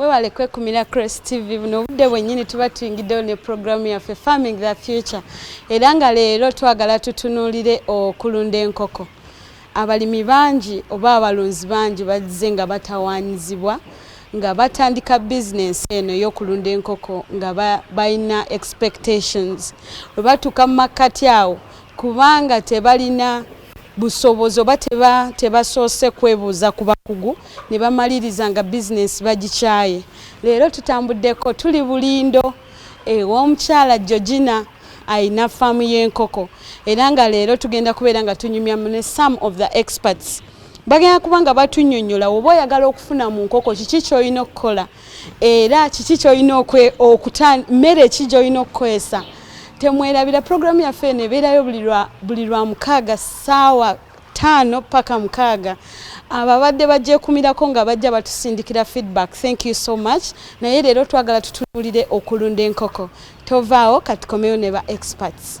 webale kwekumira cross tv buno obudde bwennyini tuba tuyingiddewo ne puroguramu yaffe farming the future era nga leero twagala tutunuulire okulunda enkoko abalimi bangi oba abalunzi bangi bazze nga batawaanyizibwa nga batandika bizinensi eno ey'okulunda enkoko nga balina expectations bwe batuuka mu makkati awo kubanga tebalina busobozi oba tebasoose kwebuuza ku bakugu ne bamaliriza nga bizinensi bagikyaye leero tutambuddeko tuli bulindo ew'omukyala eh, georgina alina faamu y'enkoko era nga leero tugenda kubeera nga tunyumya ne some of the experts bagenda kuba nga batunyonyola woba oyagala okufuna mu nkoko kiki kyolina okukola era kiki kyolina mmere ki gyolina okukozesa temwerabira pulogulaamu yaffe eno ebeerayo buli lwa mukaaga ssaawa ttaano paka mukaaga abo abadde bagyekumirako nga bajja batusindikira feedback thank you so much naye leero twagala tutunulire okulunda enkoko tovaawo katikomewo ne ba experts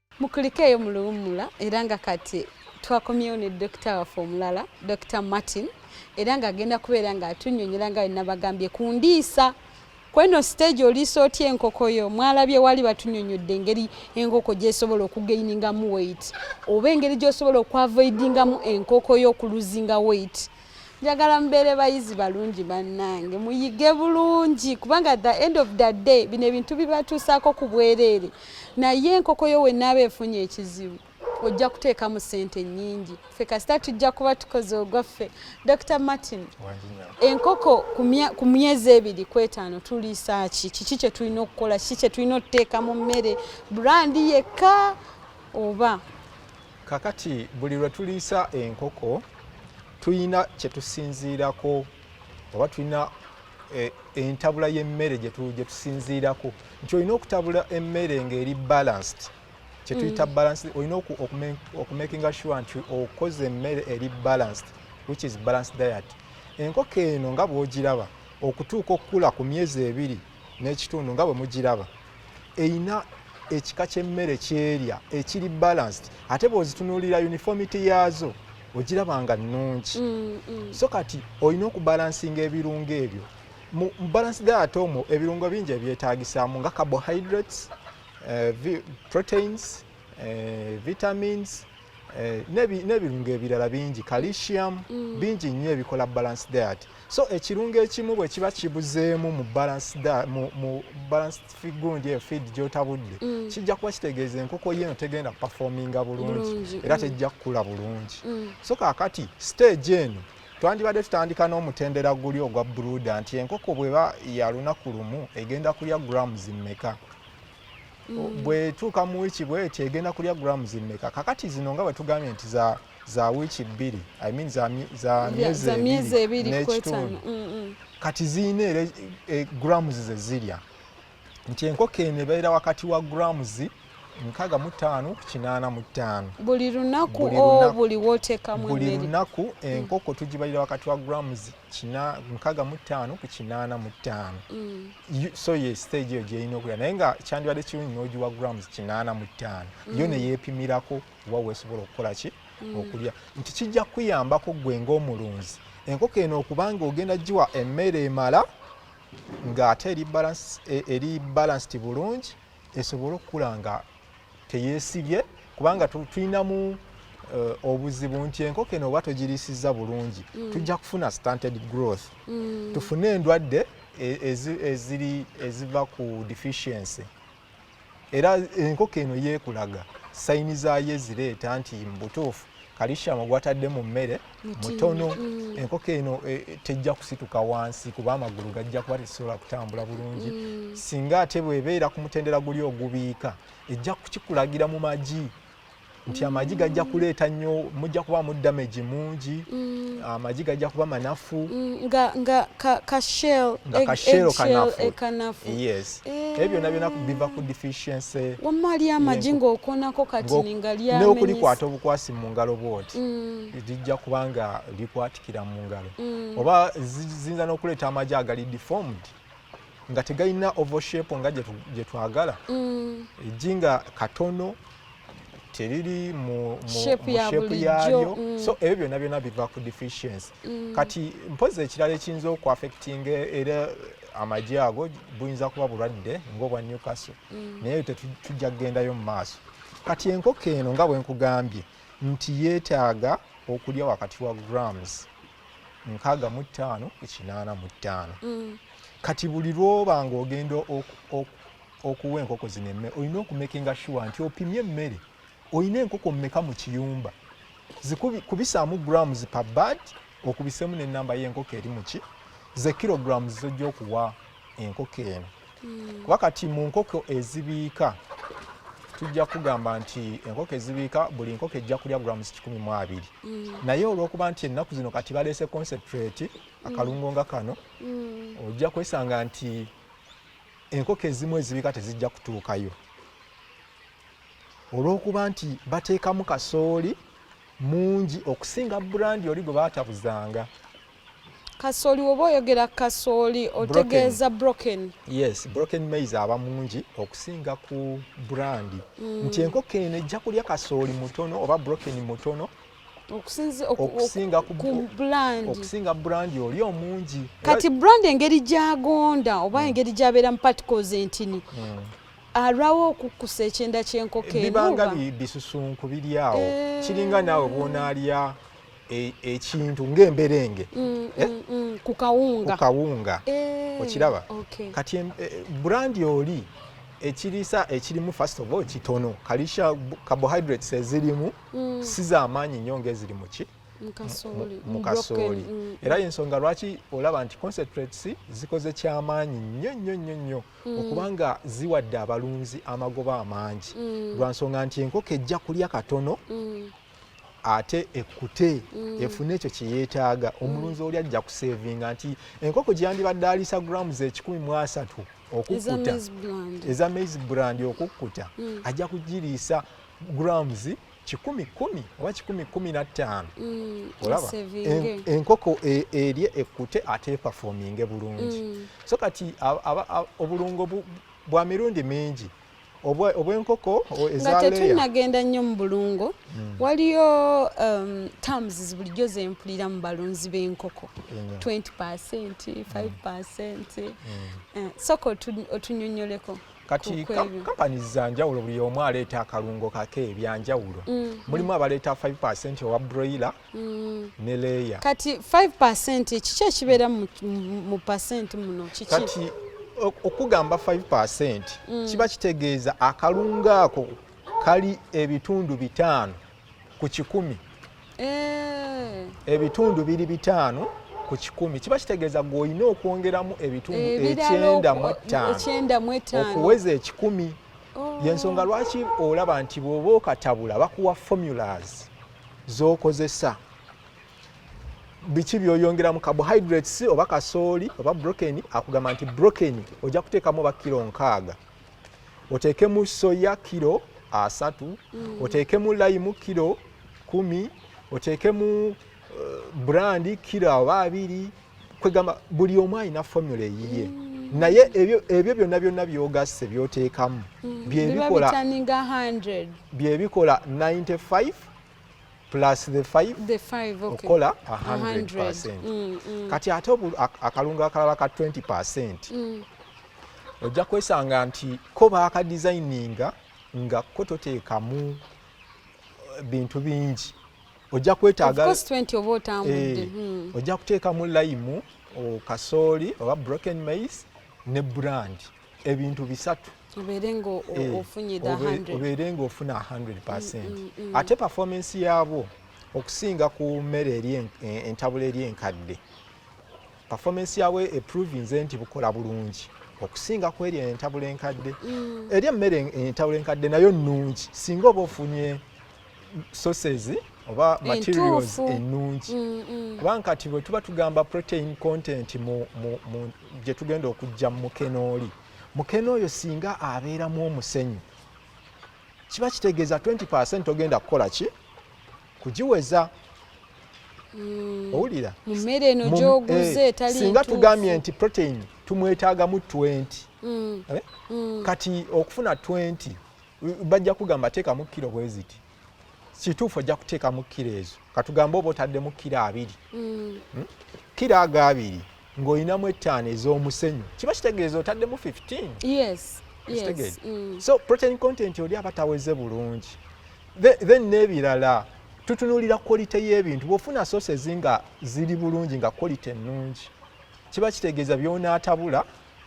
mukulikeeyo mu luwummula era nga kati twakomyewo ne dokita waffe omulala dokita martin era ng'agenda kubeera ng'atunyonyola nga wenabagambye ku ndiisa kweno siteegi oliisa otya enkoko yo mwalabye wali batunyonyodde engeri enkoko gyesobola okugeiningamu weit oba engeri gyosobola okwavoidingamu enkoko yo okuluzinga weit njagala mubeere bayizi balungi bannange muyige bulungi kubanga the end of the day bino ebintu bibatuusaako ku bwereere naye enkoko yo wenaaba efunye ekizibu ojja kuteekamu ssente nnyingi ffe kasita tujja kuba tukoze ogwaffe dr martin enkoko ku myezi ebiri ku etaano tuliisa ki kiki kye tulina okukola kiki kye tulina okuteeka mu mmere brandi yekka oba kakati buli lwe tuliisa enkoko tulina kye tusinziirako oba tulina eh, entabula y'emmere gye tusinziirako nti olina okutabula emmere ng'eri balanced kye tuyita mm. balanced olina okumakinga sure nti okoze emmere eri balanced which is balanced diet enkoko eno nga bw'ogiraba okutuuka okukula ku myezi ebiri n'ekitundu nga bwe mugiraba erina ekika ky'emmere kyerya ekiri balanced ate bw'ozitunuulira uniformity yaazo ogiraba nga nnungi mm, mm. so kati olina okubalansinga ebirungo ebyo mu balance diet omwo ebirungo bingi ebyetaagisaamu nga carbohydrates uh, proteins uh, vitamins Eh, n'ebirungo ebirala bingi calcium mm. bingi nnyo ebikola balance diet so ekirungo ekimu bwe kiba kibuzeemu mu balance gundi eyo feed gyotabudde mm. kijja kuba kitegeeza enkoko yo eno tegenda performinga bulungi era mm. tejja kukula bulungi so kakati stage eno twandibadde tutandika n'omutendera guli ogwa bruda nti enkoko bweba yalunaku lumu egenda kulya grams mmeka mm. bwetuuka mu wiiki bweti egenda kulya grams mmeka kakati zino nga bwetugambye nti za za wiiki bbiri I mean za, za myezi ebiri n'ekitundu mm, mm. kati ziyina era e, eh, grams ze zirya nti enkoko eno ebeera wakati wa grams nkaga mu ttaano ku kinaana mu ttaano buli lunaku o buli wotekamu buli lunaku enkoko tugibalira wakati wa grams kina nkaga mu ttaano ku kinaana mu ttaano mm. so ye stage eyo gyerina okulira naye nga kyandibadde kirungi n'ogiwa grams kinaana mu ttaano mm. yo neyeepimirako oba weesobola okukola ki mm. okulya nti kijja kukuyambako gwe ng'omulunzi enkoko eno okubanga ogenda giwa emmere emala ng'ate eri e, balanced bulungi esobole okukula nga teyesibye kubanga tulinamu Eh, obuzibu nti enkoko eno oba togirisiza bulungi mm. tujja kufuna stunted growth mm. tufune endwadde e, eziri eziva ku deficiency era enkoko eno yeekulaga sayini zaayo ezireeta nti mubutuufu kalishamu gwatadde mu mmere mutono mm. enkoko eno e, e, tejja kusituka wansi kuba amagulu gajja kuba tesobola kutambula bulungi mm. singa ate bwebeera ku mutendera guli ogubiika ejja kukikulagira mu magi nti mm. amagi gajja kuleeta nnyo mujja kuba mu damage mungi mm. amagi gajja kuba manafu mm, nga kashel e, kanafu e, ebyo byonna byona biva ku deficiency wamma ali amagi ng'okonako kati ninga lyamenyis n'okulikwata obukwasi mu ngalo bwoti lijja kuba nga likwatikira mu ngalo mm. oba ziyinza n'okuleeta amagi agali deformed nga tegalina ovoshape nga gye twagala mm. ejji nga katono teriri mu shepu yaalyo mm. so ebyo byonna byonna biva ku deficiency kati mpozi ekirala ekiyinza okuafectinga era amagi ago buyinza kuba bulwadde ngaobwa newcastle naye ebyo tetujja kugendayo mu maaso kati enkoko eno nga bwenkugambye nti yeetaaga okulya wakati wa grams nkaaga mu ttaano ku kinaana mu ttaano mm. kati buli lwoba nga ogenda okuwa enkoko zino emmere olina okumekinga shuwa nti opimye emmere olina enkoko mmeka mu kiyumba kubisaamu grams pa bad okubisemu nenamba y'enkoko eri muki ze kilograms zojja okuwa enkoko eno hmm. kuba kati mu nkoko ezibiika tujja kugamba nti enkoko ezibiika buli nkoko ejja kulya grams kikumi mu abiri hmm. naye olwokuba nti ennaku zino kati baleese concentrate hmm. akalungo nga kano ojja kwesanga nti enkoko ezimu ezibiika tezijja kutuukayo olwokuba nti bateekamu kasooli mungi okusinga burandi oli gwe batabuzanga kasooli woba oyogera kasooli otegeeza broken yes broken mais aba mungi okusinga ku brandi mm. nti enkoko eno ejja kulya kasooli mutono oba broken mutono okusinga brandi oli omungi kati brandi engeri gyagonda oba mm. engeri gyabeera mu particles entini mm. alwawo okukkusa ekyenda kyenkoko bibanga bisusunku biri awo eh. kiringa naawe bwonaalya e, ekintu ng'emberenge mm, eh? mm, mm, ku kawunga ku kawunga eh, okiraba okay. kati e, brandi oli ekirisa ekirimu first of all kitono kalisha carbohydrates ezirimu mm. si z'amaanyi nnyo ng'eziri mu ki mu kasooli mm. era yensonga lwaki olaba nti concentrates zikoze kyamaanyi nnyo nnyo nnyo nnyo mm. okuba nga ziwadde abalunzi amagoba amangi mm. lwa nsonga nti enkoko ejja kulya katono ate ekkute mm. efune ekyo kyeyeetaaga mm. omulunzi oli ajja kuseevinga nti enkoko gyeyandibadde aliisa grams ekikumi mu asatu okukkuta eza maize brand okukkuta mm. ajja kugiriisa grams kikumi kumi oba kikumi kumi na ttaano mm, olaba enkoko e, erye ekkute ate epafominge bulungi mm. so kati obulungo bwa mirundi mingi obwenkoko nga tetunagenda nnyo mu bulungo hmm. waliyo um, terms bulijjo zempulira mu balunzi b'enkoko 20 percent 5 hmm. percent hmm. eh, soka otunyonyoleko kati kampani zanjawulo buli omu aleeta akalungo kake ebyanjawulo mm. mulimu abaleeta 5 owa broiler mm. ne leeya kati 5 percent kiki ekibeera mu percent muno kiki kati okugamba 5 percent mm. kiba kitegeeza akalungu ako kali ebitundu bitaano ku kikumi eh. ebitundu biri bitaano ku kikumi kiba kitegeeza gwe olina okwongeramu ebitundu eh, ekyenda mu ettaano okuweza ekikumi oh. yensonga lwaki olaba nti bw'oba okatabula bakuwa formulas zokozesa biki byoyongera mu carbohydrates oba kasooli oba broken akugamba nti broken ojja kuteekamu oba kiro nkaaga oteekemu soya kiro asatu mm. oteekemu layimu kiro kumi oteekemu uh, eh, brandi kiro oba abiri kwegamba buli omu alina formula eyiye mm. naye ebyo byonna byonna byogasse byoteekamu mm. byebikola 95 plus the 5 okola 100 mm, kati ate akalungu akalala ka 20 percent ojja kwesanga nti ko baakadesigninga nga ko toteekamu eh, bintu bingi ojja kwetaaga eh, hmm. ojja kuteekamu layimu kasooli oba broken maize ne brand ebintu bisatu obeere ng'ofuna 100 percent mm, mm, mm. ate performance yaabwo okusinga ku mmere e, entabula eri enkadde performance yaabwo eprovinze nti bukola bulungi okusinga ku eri entabula enkadde eri emmere entabula enkadde nayo nnungi singa oba ofunye sources oba materials ennungi mm, mm. kubanga kati bwe tuba tugamba protein content gye tugenda okujja mu mukene oli mukene oyo singa abeeramu omusenyu kiba kitegeeza 20 percent ogenda kukola ki kugiweza mm. owulira mu mmere eno gyoguze eh, etali singa tugambye nti protein tumwetaagamu 20 eh? kati okufuna 20 bajja kugamba teekamu kiro bweziti kituufu ojja kuteekamu kiro ezo katugambe oba otaddemu kiro abiri mm. hmm? kiro ago abiri ng'olinamu ettaano ez'omusenyu kiba kitegeeza otaddemu 15 yes. yes. mm. so protein content oli aba taweze bulungi then n'ebirala tutunulira quality y'ebintu bwofuna sources nga ziri bulungi nga quality ennungi kiba kitegeeza byonaatabula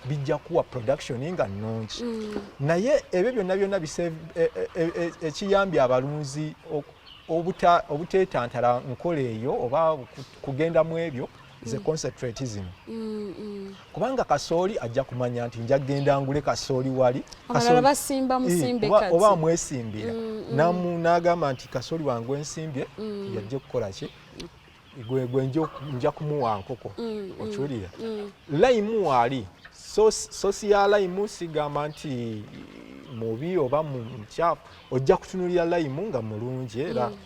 bijja kuwa production nga nnungi mm. naye ebyo byonna byonna e, e, e, ekiyambye abalunzi obuteetantala nkola eyo oba kugenda mu ebyo ze mm. concentrate zino mm, mm. kubanga kasooli ajja kumanya nti nja kugenda ngule kasooli wali oba amwesimbira n'agamba nti kasooli wange ensimbye yajja okukola ki gwe gwe nja kumuwa nkoko mm, mm, okiwulira mm. layimu waali sosi ya layimu sigamba nti mubi oba mukyafu ojja kutunulira layimu nga mulungi era mm.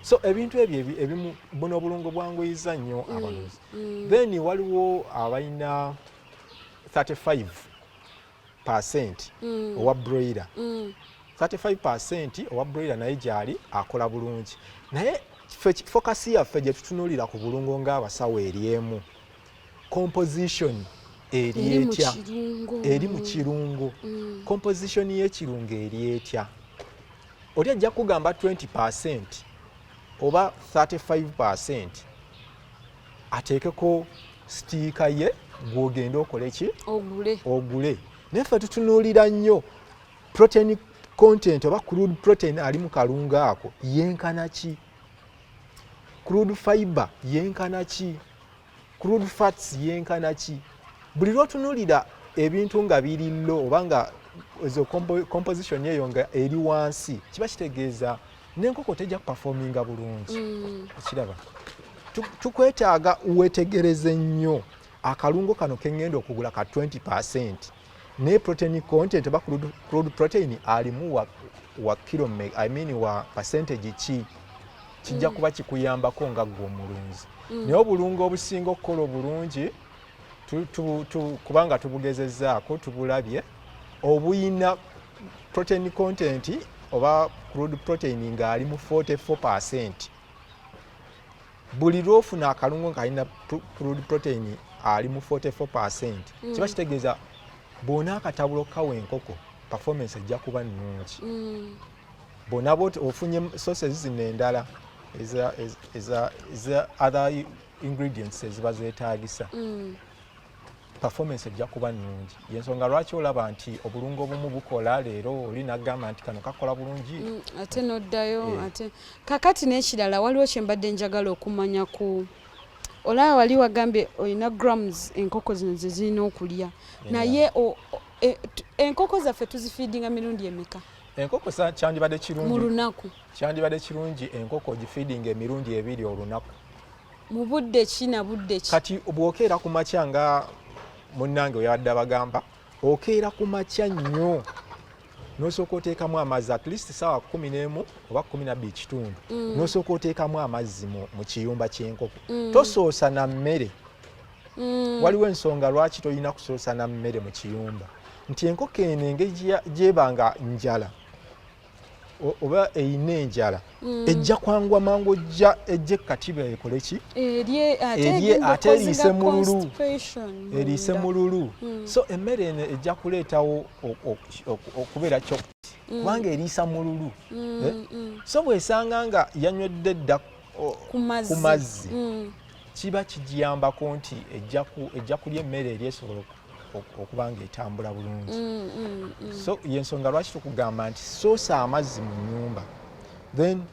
so ebintu ebyo ebimu buno obulungo bwanguyiza nnyo mm, abanuzi mm. then waliwo abalina 35 percent mm. owa broiler mm. 35 percent owa broiler naye gyali akola bulungi naye fokasi yaffe gye tutunuulira ku bulungo ng'abasawo eri emu composition eri etya eri mu kirungo mm. composition y'ekirungo eri etya oli ajja kugamba 20 percent oba 35 percent ateekeko sitiika ye gwogende okole ki ogule ogule naye ffe tutunuulira nnyo protein content oba crude protein ali mu kalungu ako yenkana ki crude fiber yenkana ki crude fats yenkana ki buli lwotunuulira ebintu nga biri lo oba nga ezo composition eyo nga eri wansi kiba kitegeeza n'enkoko tejja kupafominga bulungi mm. okiraba tukwetaaga wetegereze nnyo akalungo kano kengenda okugula ka 20 percent ne protein content oba crude protein alimu wa, wa kilo me, I mean wa percentage ki kijja mm. kuba kikuyambako nga gwe omulunzi mm. naye obulungo obusinga okukola obulungi tu, tu, tu, kubanga tubugezezzaako tubulabye obuyina protein content oba crude protein ng'ali mu 44 percent buli lwofuna akalungo ng'alina crude protein ali mu 44 percent mm. kiba kitegeeza bwona akatabulo kawa enkoko performance ejja kuba nnungi mm. bwona bwoti ofunye sources zino endala eza other ingredients eziba zeetaagisa mm. performance ejja kuba nnungi yensonga lwaki olaba nti obulungo obumu bukola leero oli nagamba nti kano kakola bulungi mm, ate noddayo eh. ate kakati n'ekirala waliwo kyembadde njagala okumanya ku olaba wali wagambye olina grams enkoko zino zezirina okulya naye e, enkoko zaffe tuzifiidinga mirundi emeka enkoko kyandibadde kirungi mu lunaku kyandibadde kirungi enkoko ogifeedinga emirundi ebiri olunaku mu budde ki na budde ki kati bwokeera ku makya nga munnange weyabadde abagamba okeera ku makya nnyo nosooka oteekamu amazzi at least saawa kumi n'emu oba kumi nabbiri kitundu mm. nosooka oteekamu amazzi mu kiyumba ky'enkoko mm. tosoosa na mmere mm. waliwo ensonga lwaki tolina kusoosa na mmere mu kiyumba nti enkoko eno engeri gyeba nga njala oba eyina enjala mm. ejja kwangwa mangu ojja ejje katiba ekole ki erye ate eriise mululu eriise mululu mm. so emmere eno ejja kuleetawo okubeera kyo mm. kubanga eriisa mululu eh? so bwesanga nga yanywedde dda ku mazzi kiba kigiyambako nti ejja kulya emmere eri esobola okuba nga etambula bulungi mm, mm, mm. so yensonga lwaki tukugamba nti soosa amazzi mu nyumba then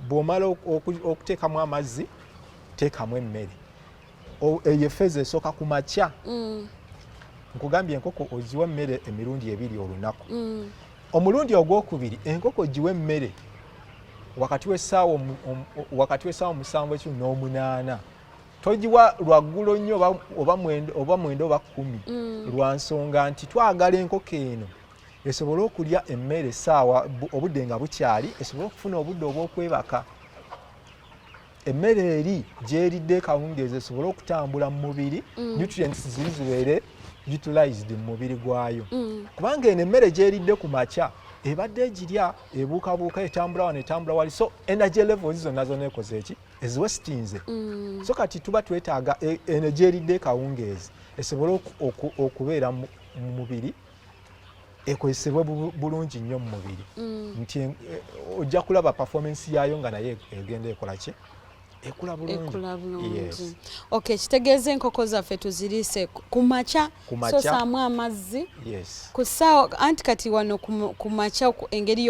bwomala okuteekamu amazzi teekamu emmere eyo efeeza esooka ku makya nkugambye enkoko oziwa emmere emirundi ebiri olunaku omulundi ogwokubiri enkoko giwa emmere wakati w'essaawa omusanvu ekyo n'omunaana togiwa lwaggulo nnyo oba mwenda oba kkumi mm. lwa nsonga nti twagala enkoko eno esobole okulya emmere essaawa obudde nga bukyali esobole okufuna obudde obw'okwebaka emmere eri gyeridde kawungeezi esobole okutambula mu mubiri mm. nutrients ziri zibeere utilized mu mubiri gwayo mm. kubanga eno emmere gyeridde ku makya ebadde egirya ebuukabuuka etambula wano etambula wali so energy levels zonna zona ekoze eki eziwesitinze mm. so kati tuba twetaaga e, eno gyeridde kawungeezi esobole okubeera mu mubiri ekozesebwe bulungi nnyo mu mubiri mm. nti e, ojja kulaba performance yaayo nga naye egenda ekola ki ekula bulungi ok kitegeeza enkoko zaffe tuziriise ku makya sosaamu amazzi ku saawa anti kati wano ku makya engeri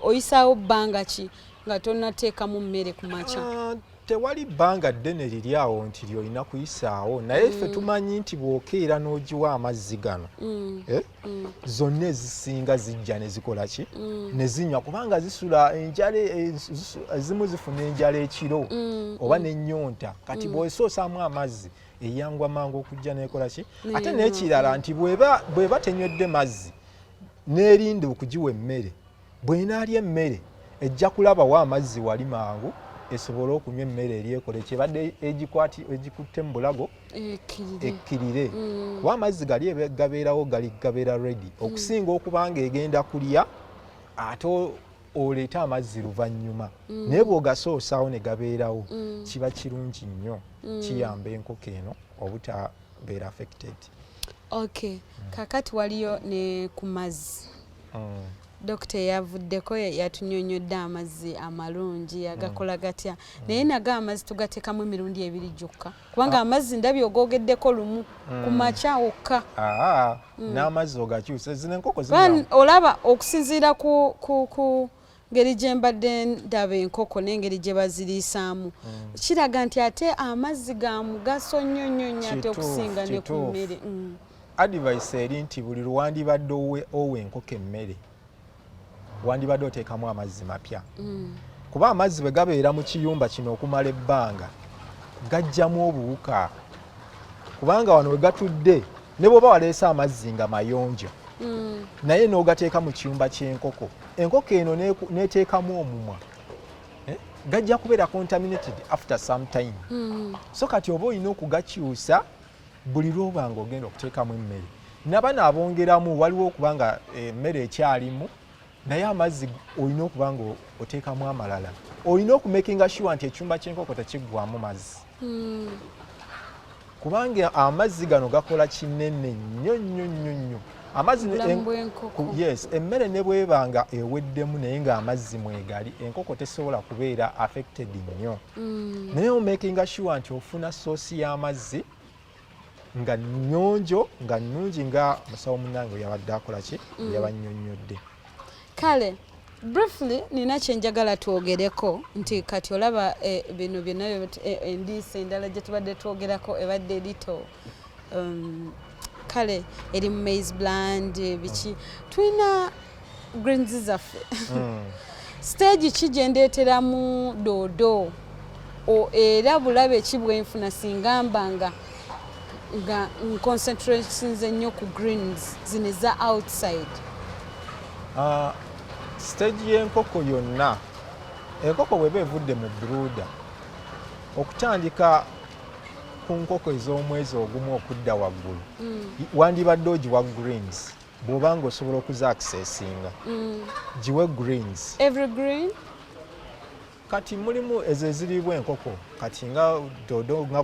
oyisaawo bbanga ki nga tonateekamu mmere ku makya ah, tewali bbanga ddene liri awo nti lyolina kuyisaawo naye ffe mm. tumanyi nti bw'okeera n'ogiwa amazzi gano mm. Eh, mm. zonna ezisinga zijja ne zikola ki ne zinywa kubanga zisula enjala eh, ezimu zifuna enjala ekiro oba n'ennyonta kati bw'osoosaamu amazzi eyangwa mangu okujja n'ekola ki ate n'ekirala nti bw'eba tenywedde mazzi n'erinda okugiwa emmere bwenaalya emmere ejja kulabawo amazzi wali mangu esobole okunywa emmere eri ekole kyebadde egikwati egikutte mu bulago ekkirire mm. kuba amazzi gali gabeerawo gali gabeera redi mm. okusinga okubanga egenda kulya ate oleete amazzi luvannyuma mm. naye bwogasoosaawo ne gabeerawo kiba kirungi nnyo kiyamba enkoko eno obuta beera affected ok mm. kakati waliyo ne ku mazzi mm. dokita eyavuddeko yatunyonyodde amazzi amalungi mm. agakola gatya mm. naye nago amazzi tugatekamu emirundi ebiri gyokka kubanga ah. amazzi ndabi ogogeddeko lumu mm. ku makya wokka ah, n'amazzi ogakyusa zino enkoko olaba okusinziira ku ngeri gye mbadde ndaba enkoko n'engeri gye baziriisaamu mm. kiraga nti ate amazzi ga mugaso nnyo nnyo nnyo ate okusinga ne ku mmere mm. advice eri nti buli lwewandibadde owa enkoko emmere wandibadde oteekamu amazzi mapya mm. kuba amazzi bwe gabeera mu kiyumba kino okumala ebbanga gajjamu obuwuka kubanga wano we gatudde ne bwoba waleese amazzi nga mayonjo mm. naye n'ogateeka mu kiyumba ky'enkoko enkoko eno n'eteekamu omumwa eh, gajja kubeera contaminated after some time mm. so kati oba olina okugakyusa buli lwoba nga ogenda okuteekamu emmere nabano abongeramu waliwo okuba nga eh, emmere ekyalimu naye amazzi olina okuba nga oteekamu amalala olina okumakinga shuwa nti ekyumba kyenkoko tekiggwamu mazzi hmm. kubanga amazzi gano gakola kinene nnyo nnyo nnyo nnyo amazzi yes emmere ne bweba nga eweddemu naye nga amazzi mwegali enkoko tesobola kubeera affected nnyo mm. naye omakinga sure nti ofuna soosi y'amazzi nga nyonjo nga nungi nga musawo munange yabadde akola ki mm. yabanyonyodde kale briefly nina kyenjagala twogereko nti kati olaba eh, bino byonna eh, endiisa endala gye tubadde twogerako ebadde erito um, kale eri mu maize bland biki tulina greens zaffe hmm. stage ki gye ndeeteramu doodo era bulabe ki bwenfuna singa mbanga nga nconcentrations ennyo ku greens zino eza outside ah, stage y'enkoko yonna enkoko bweba evudde mu bruda okutandika ku nkoko ez'omwezi ogumu okudda waggulu hmm. wandibadde ogiwa greens bwoba nga osobola okuza akisesinga mm. giwe greens every green kati mulimu ezo eziriibwa enkoko kati nga dodo nga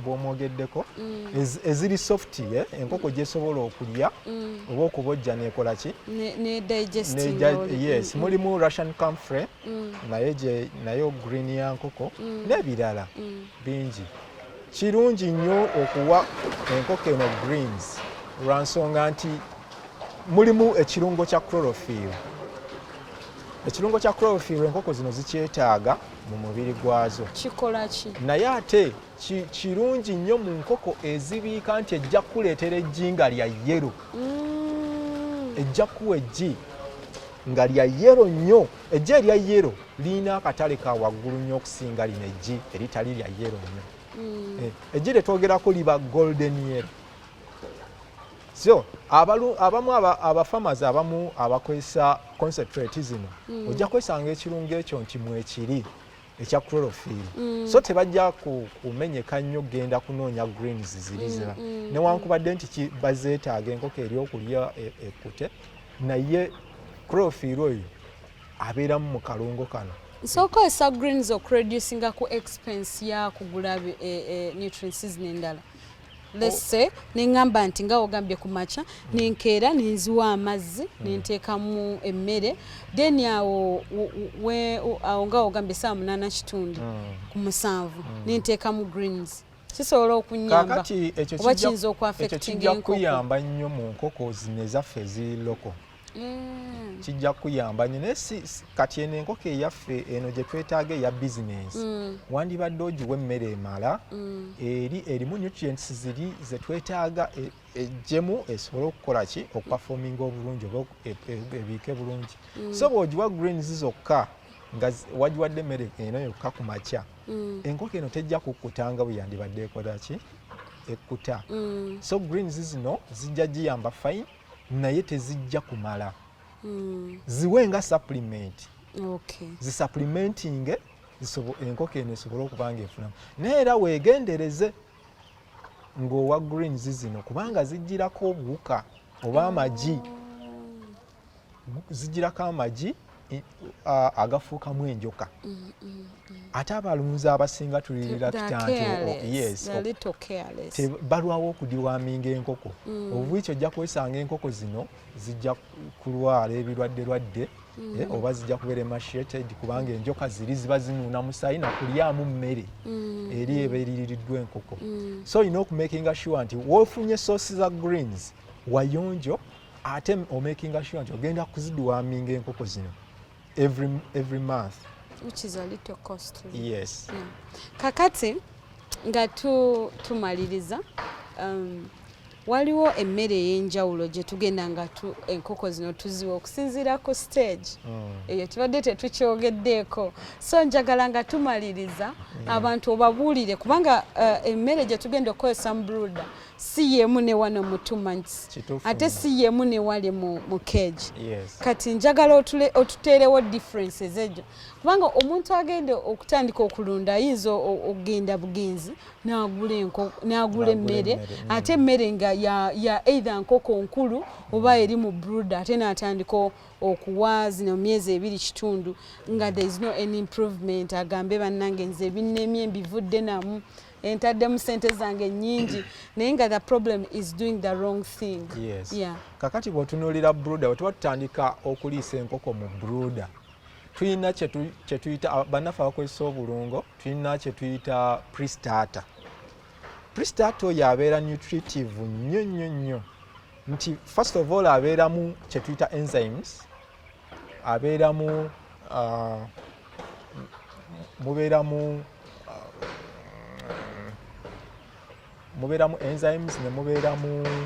bwomwogeddeko mm. eziri soft eh, enkoko gyesobola okulya mm. oba okubojja nekola ki yes mulimu russian camfre naye nayo green ya nkoko n'ebirala bingi Kirungi nnyo okuwa enkoko eno greens lwa nsonga nti mulimu ekirungo kya chlorophyll. Ekirungo kya chlorophyll enkoko zino zikyetaaga mu mubiri gwazo. Kikola ki? Naye ate kirungi nnyo mu nkoko ezibiika nti ejja kukuleetera eggi nga lya yero. Mm. Ejja kuwa eggi nga lya yero nnyo. Ejji erya yero lirina akatale ka waggulu nnyo okusinga lino ejji eritali lya yero nnyo. Mm. Eh, ejji lye twogerako liba golden yero. So abamu abafamazi abamu abakozesa concentrate zino mm. ojja kwesanga ekirungo ekyo nti mwekiri. ekya chlorophil mm. so tebajja kumenyeka nnyo kugenda kunoonya greens ziriza mm, mm, newankubadde nti bazeetaaga enkoko eri okulya e, ekute naye chlorophil oyo abeeramu mu kalungo kano nsokozesa greens okureducinga ku expense yakugula e, e, nutrients nendala lese nengamba nti nga ogambye ku makya nenkeera nenziwa amazzi hmm. nenteekamu emmere then awo awo nga ogambye saa munaana kitundu hmm. ku musanvu hmm. nenteekamu greens kisobola okunyamba oba kiyinza okuafectinga enkoko kakati ekyo kijja kuyamba nnyo mu nkoko zino ezaffe eziri loko mm. kijja kuyamba nyo naye kati eno enkoko eyaffe eno gye twetaaga eya bizinensi mm. wandibadde ogiwa emmere emala mm. eri erimu nutrients ziri ze twetaaga e, ejjemu esobole okukola ki okupafominga obulungi oba e, e, ebiike bulungi mm. so bw'ogiwa greens zokka nga wagiwadde emmere eno yokka ku makya mm. enkoko eno tejja kukkutanga bwe yandibadde ekola ki ekkuta mm. so greens zino zijja giyamba fine naye tezijja kumala mm. ziwe nga supplement okay. zisupplementinge enkoko eno esobole okuba nga efunamu naye era weegendereze ng'owa green zizino kubanga zijjirako obuwuka oba amagi oh. zijjirako amagi agafuukamu enjoka mm, mm, mm. ate abalunzi abasinga tulirakitbalwawo okudiwaminga enkoko obwikyo ojja kwesanga enkoko zino zijja kulwala ebirwadde lwadde eh, oba zijja kubeera emasheted kubanga enjoka ziri ziba zinuuna musayi nakulyamu mmere eri eba eriririddwa enkoko so olina okumakinga sure nti wofunye sosi za greens wayonjo ate omakinga sure nti ogenda kuzidiwaminga enkoko zino every, every month which is a little costly yes yeah. kakati nga tu, tumaliriza um, waliwo emmere ey'enjawulo gye tugenda nga tu, enkoko zino tuziwa okusinziira ku stage mm. eyo mm. tubadde tetukyogeddeeko so njagala nga tumaliriza mm. abantu obabuulire kubanga uh, emmere gye tugenda okukozesa mu bruda si yemu ne wano mu two months ate si yemu ne wali mu, mu cage yes. kati njagala otuteerewo differences ejo kubanga omuntu agenda okutandika okulunda ayinza okugenda bugenzi nagula enko nagula emmere mm. ate emmere nga ya, ya either nkoko nkulu oba eri mu bruda ate natandika okuwa zino myezi ebiri kitundu nga there is no any improvement agambe bannange nze ebinnemye mbivudde namu entaddemu sente zange nyingi naye nga the problem is doing the wrong thing yes. yeah. kakati bwotunulira bruda wetuba tutandika okuliisa enkoko mu bruda tulina kyetuyita bannaffe abakozesa obulungo tulina kyetuyita pristata pristata oyo abeera nutritive nnyo nnyo nnyo nti first of all abeeramu kyetuyita enzymes abeera mu uh, mubeera mu uh, mubeera mu enzymes ne mubeera mu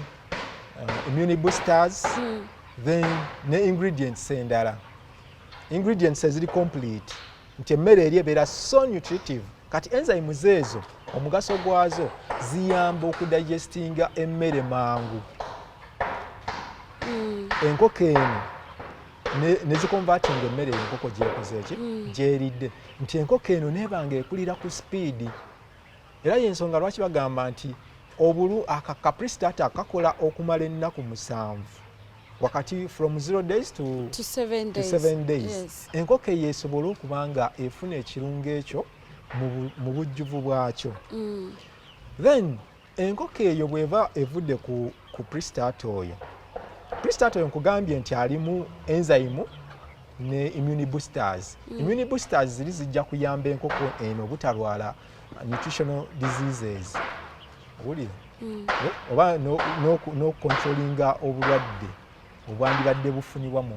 uh, immune boosters mm. then ne ingredients endala ingredients eziri complete nti emmere eri ebeera so nutritive kati enzymes ezo omugaso gwazo ziyamba okudigestinga emmere mangu mm. enkoko eno nezikonvatinga emmere enkoko gyekoze eki mm. gyeridde nti enkoko eno nebanga ekulira ku sipiidi era yensonga lwaki bagamba nti obulu akakaprisitata kakola okumala ennaku musanvu wakati from zero days to, to seven days, to seven days. Yes. enkoko eyo esobole okuba nga efuna ekirungo ekyo mu bujjuvu bwakyo mm. then enkoko eyo bweba evudde ku, ku pristat oyo pristat oyo nkugambye nti alimu enzyme ne immune boosters mm. immune boosters ziri zijja kuyamba enkoko eno obutalwala nutritional diseases wulira hmm. eh, oba n'okukontrolinga obulwadde obwandibadde bufunibwa mu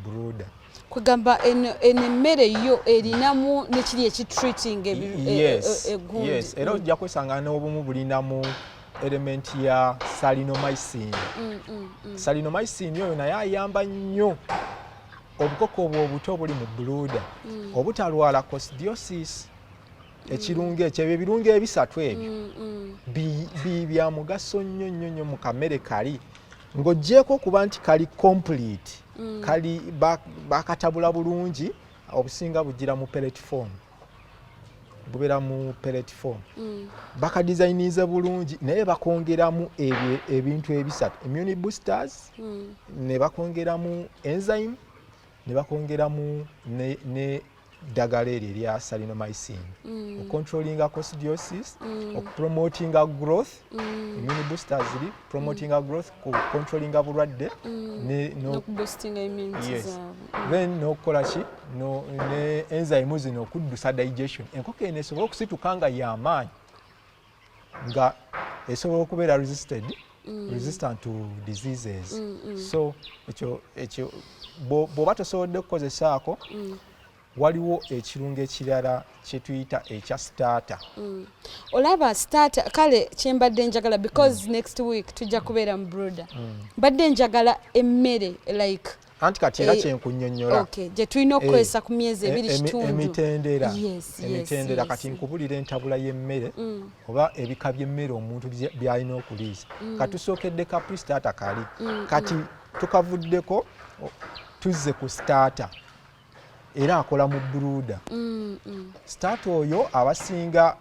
broda kwegamba eno emmere yo erinamu nekiri ekitreating e, e, e, egundi era ojja kwesanga n'obumu bulinamu element ya salinomycin mm, mm, mm. salinomycin oyo naye ayamba nnyo obukoko obwo obuto obuli mu buluuda obutalwala cosdiosis ekirungo ekyo ebyo ebirungo ebisatu ebyo mm, mm. bya mugaso nnyo nnyo nnyo mu kamere kali ng'oggyeeko okuba nti kali complete mm. kali bakatabula bulungi obusinga bugira mu peletform bubeera mu peletform bakadizayinize bulungi naye bakongeramu ebintu ebisatu immune boosters ne bakongeramu enzyme ne bakongeramu ne ddagala eryo erya salinomycin mm. ocontrollinga cosdiosis mm. okupromotinga growth mm. immune booster ziri promotinga mm. growth kucontrollinga bulwadde mm. ne, no, no yes. mm. then nokukola ki no, ne enzyme zino okuddusa digestion enkoko eno esobole okusituka nga yamaanyi nga esobola okubeera resisted mm. resistant to diseases mm, mm. so ekyo ekyo bw'oba tosobodde kukozesaako mm. waliwo ekirungo ekirala kyetuyita ekya starter mm. olaba starter kale kyembadde njagala because mm. next week tujja kubeera mu broda mm. mbadde njagala emmere like anti kati era eh, kyenkunyonyola gyetulina eh, okukozesa ku myezi ebiri eh, kitundu emitendera emitendera kati nkubulira entabula y'emmere mm. oba ebika by'emmere omuntu byalina okuliisa mm. katusookedde ka pristata kali mm, kati tukavuddeko tuzze ku stata era akola mu bruda stata oyo abasinga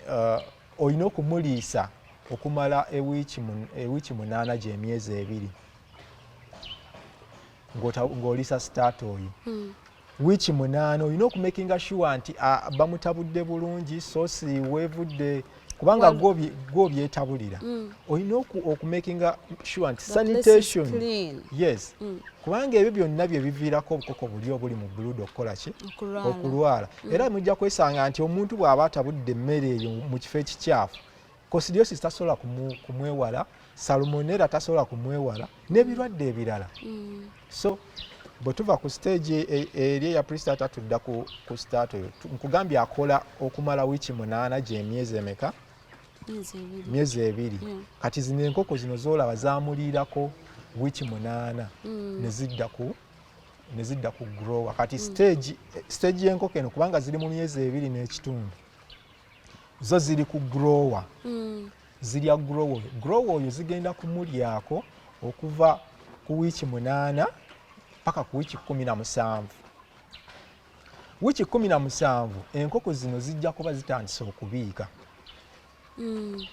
uh, olina okumuliisa okumala ewiiki munaana gy'emyezi ebiri ng'olisa sitaata oyo hmm. wiiki munaana olina okumakinga shuwa nti bamutabudde bulungi sosi wevudde kubanga gwobyetabulira mm. olina okumakinga sure nti sanitation yes mm. kubanga ebyo byonna byebiviirako obukoko buli obuli mu buluda okukola ki okulwala mm. era mujja kwesanga nti omuntu bw'aba atabudde emmere eyo mu kifo ekikyafu kosidiosis tasobola kumwewala salmonera tasobola kumwewala n'ebirwadde ebirala mm. so bwe tuva ku siteegi e, e, eri eya prisitata tudda ku sitaata oyo nkugambye akola okumala wiiki munaana gyemyezi emeka myezi ebiri mm. kati zino enkoko zino zolaba zamuliirako wiiki munaana mm. nezidda ku nezidda ku grower kati siteegi y'enkoko eno kubanga ziri mu myezi ebiri n'ekitundu zo ziri ku grower mm. zirya grower oyo grower oyo zigenda kumulyako okuva ku wiiki munaana paka ku wiiki kumi na musanvu wiiki kumi na musanvu enkoko zino zijja kuba zitandise okubiika mm.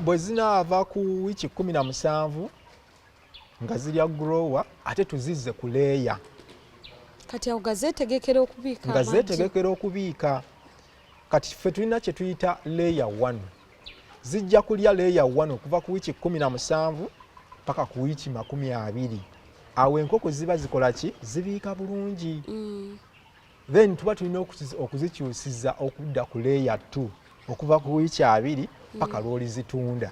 bwe zinaava ku wiiki kumi na musanvu nga zirya grower ate tuzizze ku leeya kati awo nga zeetegekera okubiika nga zeetegekera okubiika kati ffe tulina kye tuyita leeya one zijja kulya leeya one okuva ku wiiki kumi na musanvu paka ku wiiki makumi abiri awo enkoko ziba zikola ki zibiika bulungi mm. then tuba tulina okuzikyusiza okudda ku leeya t okuva ku wiiki abiri paka mm. lwolizitunda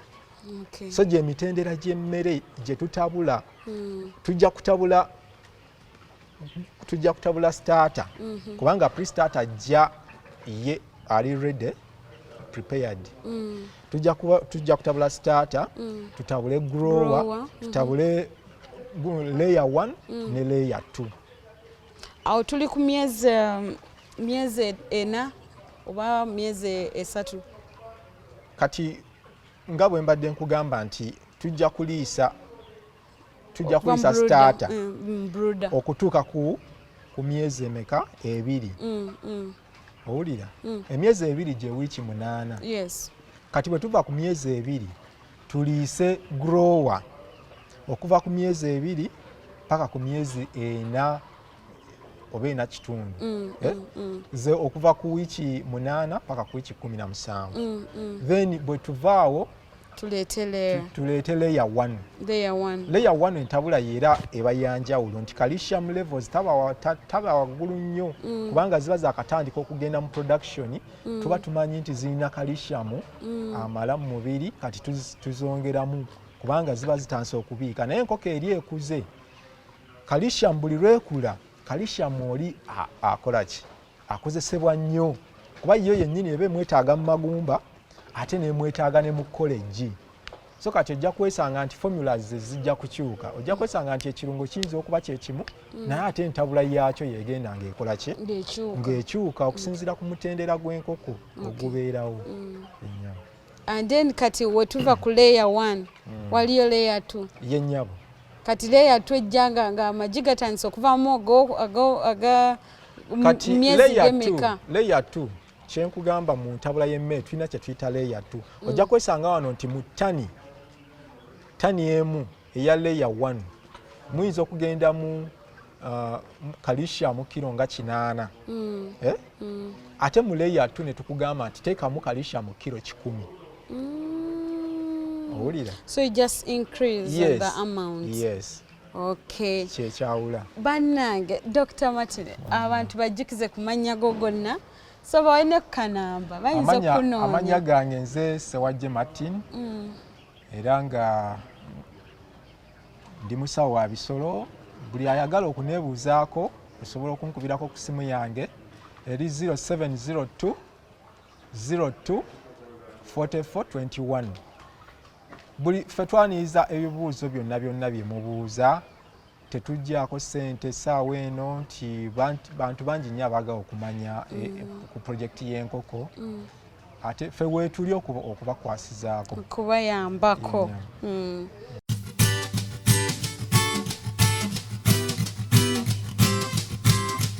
so gyemitendera gyemmere gyetutabula mm. tujja kutabula tujja kutabula starter mm-hmm. kubanga pre starter ajja ye ali ready prepared mm. tujja kutabula starter tutabule grower mm-hmm. tutabule layer 1 ne layer 2 awo tuli ku myezi um, myezi ena oba myezi esatu kati nga bwe mbadde nkugamba nti tujja kuliisa tujja kuliisa sitaata mm, mm, okutuuka ku ku myezi emeka ebiri mm, owulira mm. emyezi ebiri gye wiiki munaana yes. kati bwe tuva ku myezi ebiri tuliise grower okuva ku myezi ebiri paka ku myezi ena oba ena kitundu mm, eh? mm, mm. ze okuva ku wiiki munaana paka ku wiiki kumi na musanvu mm, mm. then bwe tuvaawo tuleete layer tuleete layer 1 layer 1 layer 1 entabula yera eba yanjawulo nti calcium levels taba taba wagulu nnyo mm. kubanga ziba za katandika okugenda mu production mm. tuba tumanyi nti zirina calcium mm. amala mu mubiri kati tuzongeramu kubanga ziba zitandise okubiika naye enkoko eri ekuze calcium buli lwekula calcium oli akola ki akozesebwa nnyo kuba yo yennyini eba emwetaaga mu magumba ate nemwetaaga ne mu kolegi so kati ojja kwesanga nti formulas zijja kukyuka ojja kwesanga nti ekirungo kiyinza okuba kyekimu mm. naye ate entabula yaakyo yegenda ngaekola ki ngaekyuka okusinziira ku mutendera gw'enkoko ogubeerawo mm. and then kati wetuva ku layer one mm. waliyo layer two yenyabo kati layer two ejjanga nga amagi gatandise okuvamu aga myezi gemeka layer two kyenkugamba mu ntabula y'emmere tulina kye tuyita layer two mm. ojja kwesanga wano nti mu tani tani emu eya leya one muyinza okugenda mu uh, kalishiamu kiro nga kinaana mm. eh? mm. ate mu leya two netukugamba nti teekamu kalishiamu kiro kikumi mm. owulira so you just increase yes. the amount yes okay kyekyawula bannange dr matine mm. abantu bajjukize ku mannya go gonna so bawalina kukanamba bayinza okunoonya amanya gange nze sewajje martin mm. era nga ndi musawo wa bisolo buli ayagala okuneebuuzaako osobola okunkubirako ku simu yange eri 0702 02 4421 buli fe twaniriza ebibuuzo byonna byonna bye mubuuza tetujjaako ssente essaawa eno nti bantu bangi nnyo abaagala okumanya e, e, mm. ku pulojekiti y'enkoko mm. ate fe weetuli okubakwasizaako okubayambako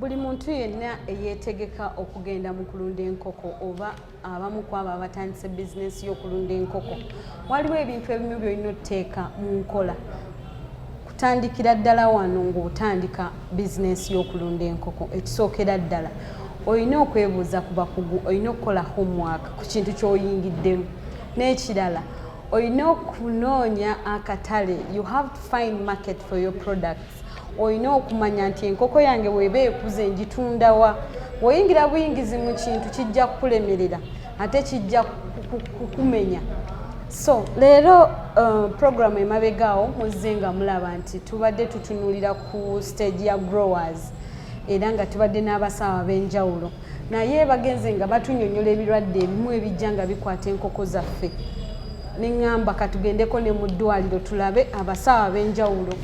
Buli muntu yenna eyeetegeka okugenda mu kulunda enkoko oba abamu ku abo abatandise bizinensi y'okulunda enkoko waliwo ebintu ebimu byolina oteeka mu nkola kutandikira ddala wano ng'otandika bizinensi y'okulunda enkoko ekisookera ddala olina okwebuuza ku bakugu olina okukola homework ku kintu ky'oyingiddemu n'ekirala olina okunoonya akatale you have to find market for your products olina okumanya nti enkoko yange weeba ekuze ngitundawa woyingira buyingizi mu kintu kijja kukulemerera ate kijja kukumenya so leero uh, programu emabegaawo muzze nga mulaba nti tubadde tutunulira ku stage ya growers era nga tubadde n'abasawo ab'enjawulo naye bagenze nga batunyonyola ebirwadde ebimu ebijja nga bikwata enkoko zaffe neŋŋamba katugendeko ne mu ddwaliro tulabe abasawo ab'enjawulo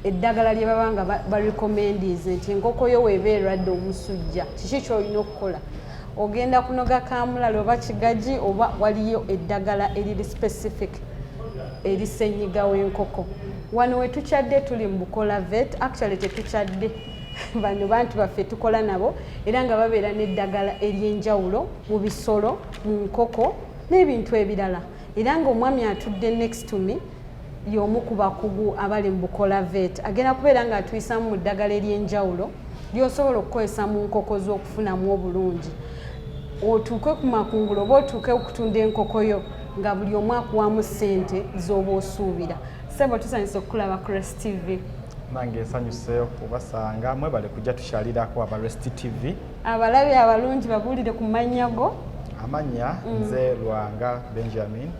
eddagala lye baba nga barecommendinze nti enkoko yo weeba erwadde omusujja kiki kyolina okukola ogenda kunoga kamulali oba kigaji oba waliyo eddagala eriri specific erisenyiga w'enkoko wano wetukyadde tuli mu bukola vet actually tetukyadde bano bantu baffe tukola nabo era nga babeera n'eddagala ery'enjawulo mu bisolo mu nkoko n'ebintu ebirala era ng'omwami atudde next to me y'omu ku bakugu abali mu bukola vet agenda kubeera nga atuyisamu mu ddagala ery'enjawulo lyosobola okukozesa mu nkoko z'okufunamu obulungi otuuke ku makungula oba otuuke okutunda enkoko yo nga buli omu akuwamu ssente z'oba osuubira sebo tusanyusa okukulaba ku rest tv nange nsanyuse okubasanga mwebale kujja tukyalirako aba rest tv abalabi abalungi babuulire ku mannya go amannya mm. nze lwanga benjamin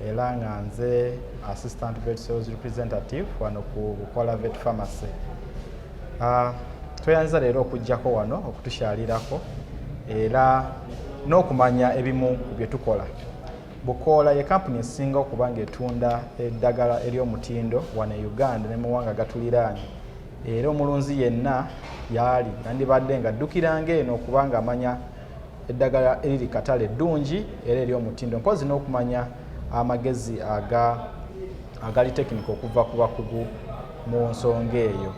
era nga nze assistant vet sales representative wano ku bukola vet pharmacy uh, tweyanziza leero okujjako wano okutukyalirako era n'okumanya ebimu ku bye tukola bukoola ye kampuni esinga okuba ngaetunda eddagala ery'omutindo wano e uganda ne muwanga gatuliraanye era omulunzi yenna yaali yandibadde nga addukiranga eno okubanga amanya eddagala eriri katale ddungi era eri omutindo mpozi n'okumanya amagezi aga agali tekinika okuva ku bakugu mu nsonga eyo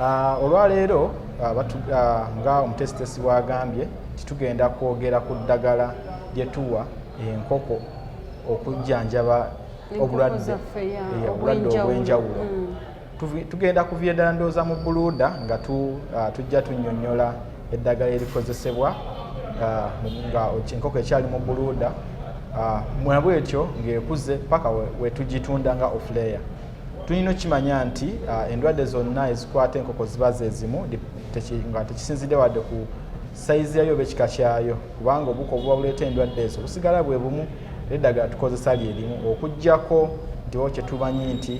ah, olwaleero ah, ah, nga omutesitesi bwagambye nti tugenda kwogera ku ddagala lyetuwa enkoko okujjanjaba obulwadde obwenjawulo mm. tugenda kuviira ddala ndowooza mu buluuda nga uh, tujja tunyonyola eddagala erikozesebwa uh, nga enkoko ekyali mu buluuda uh, mwabw ekyo ng'ekuze paka wetugitunda nga ofleya tulina okukimanya nti endwadde zonna ezikwata enkoko ziba zezimu nga tekisinzidde wadde ku sayizi yayo oba ekika kyayo kubanga obuko obuba buleeta endwadde ezo busigala bwe bumu eddagala tukozesa lyerimu okugyako ntiwo kyetumanyi nti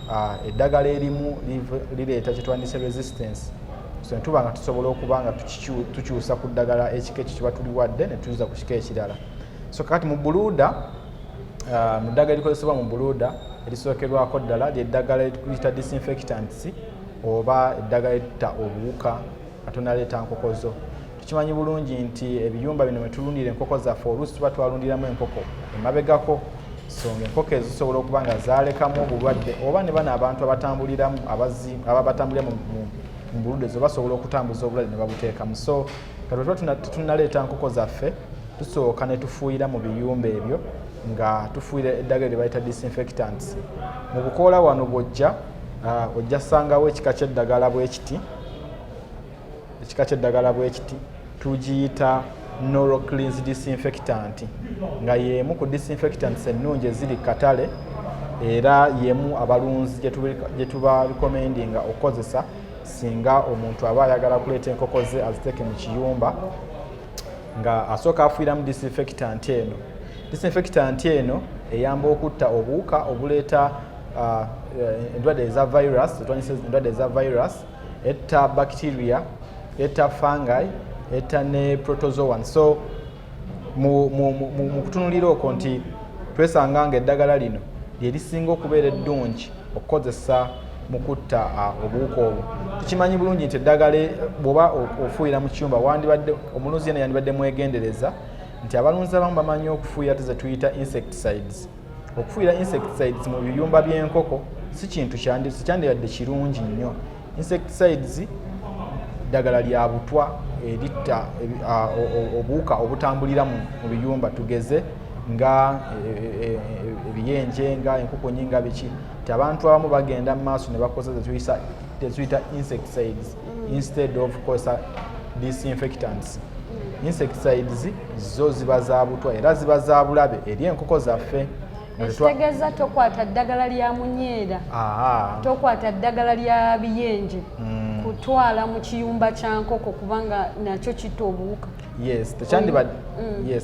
Ah, eddagala erimu lireeta kyetwandise resistance so netuba nga tusobola okuba nga tukyusa ku ddagala ekika ekyo kiba tuliwadde netuza ku kika ekirala so kakati mu buluuda ah, mu ddagala erikozesebwa mu buluuda erisookerwako ddala lyeddagala liyita disinfectants oba eddagala eritta obuwuka atonaleeta nkoko zo tukimanyi bulungi nti ebiyumba bino mwetulundira enkoko zaffe oluusi tuba twalundiramu enkoko emabegako so nga enkoko ezo zisobola okuba nga zalekamu obulwadde oba ne bano abantu abatambuliramu aba batambulira mu bulude zo basobola okutambuza obulwadde ne babuteekamu so katuba tetunaleeta nkoko zaffe tusooka ne tufuuyira mu biyumba ebyo nga tufuuyira eddagala lye bayita disinfectants mu bukoola wano bwojja ah, ojja sangawo ekika ky'eddagala bwekiti ekika kyeddagala bwekiti tugiyita noroclins disinfectant nga yemu ku disinfectants ennungi eziri katale era yemu abalunzi gyetubarekomendinga okukozesa singa omuntu aba ayagala kuleeta enkoko ze aziteeke mu kiyumba nga asooka afuiramu disinfectant eno disinfectant eno eyamba okutta obuwuka obuleeta uh, eh, endwadde eza virus zetwanyisa endwadde eza virus etta bacteria etta fungi etta ne protozoan so mu, mu, mu, mu, mu kutunulira okwo nti twesanga nga eddagala lino lyerisinga okubeera eddungi okukozesa mu kutta uh, obuwuka obwo tukimanyi bulungi nti eddagala e, bwoba ofuuyira mu kiyumba wandibadde omulunzi yena yandibadde mwegendereza nti abalunzi abamu bamanyi okufuuyira tezetuyita insecticides okufuuyira insecticides mu biyumba by'enkoko si kintu kyandibadde kirungi nnyo insecticides ddagala lya butwa eritta obuwuka obutambulira mu biyumba tugeze nga e, e, e, ebiyenje nga enkukunyi nga biki nti abantu abamu bagenda mu maaso ne bakozesa tetuyita insecticides mm. instead of kosa disinfectants mm. insecticides zo ziba zabutwa era ziba zabulabe eri enkoko zaffe ekitegeeza tokwata ddagala lya munyeera tokwata ddagala lya biyenje mm. kutwala mu kiyumba kya nkoko kubanga nakyo kitta obuwuka yes